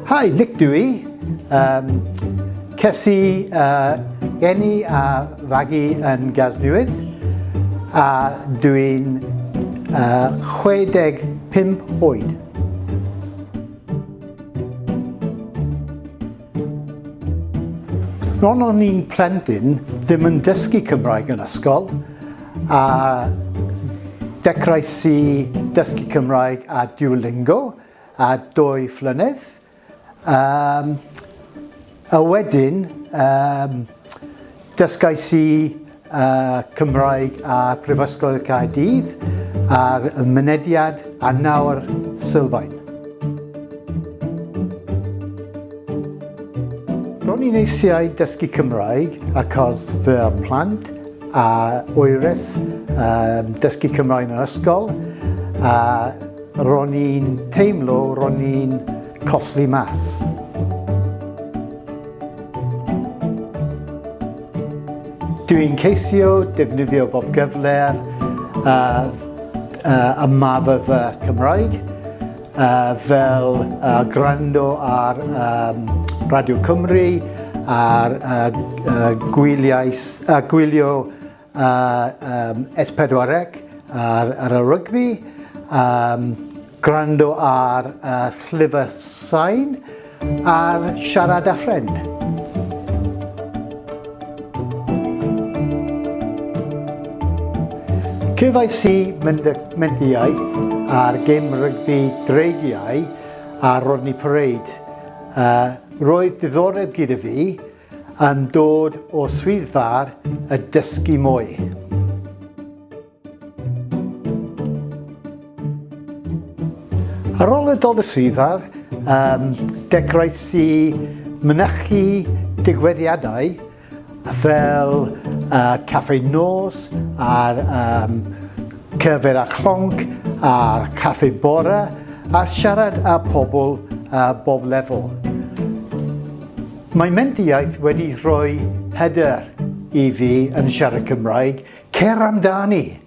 Hi, Nick dw i. Um, ces i uh, geni a fagu yn Gasnewydd a dw i'n uh, 65 oed. Ron o'n i'n plentyn ddim yn dysgu Cymraeg yn ysgol a dechreuais i dysgu Cymraeg a Duolingo a dwy flynedd. Um, a wedyn um, dysgais i y Cymraeg a Prifysgol Caerdydd ar y mynediad a nawr sylfaen. Ro'n i'n eisiau dysgu Cymraeg achos fy plant a oeres um, dysgu Cymraeg yn yr ysgol a ro'n i'n teimlo ro'n i'n colli mas. Dw i'n ceisio defnyddio bob gyfle a ma fy fy Cymraeg fel gwrando ar Radio Cymru a gwylio S4C ar y rygbi. Gwrando ar y llyfr sain ar siarad â ffrind. Cefais i mendiaeth ar gym rygbi dreigiau a Rodney Parade. Uh, roedd diddoreb gyda fi yn dod o swyddfa'r y dysgu mwy. Ar ôl y dod y swyddfa'r um, dechreuais i mynychu digwyddiadau fel uh, caffe nos a'r um, cyfer a chlonc a'r caffe bore a siarad â pobl uh, bob lefel. Mae mentiaeth wedi rhoi hyder i fi yn siarad Cymraeg Cer amdani!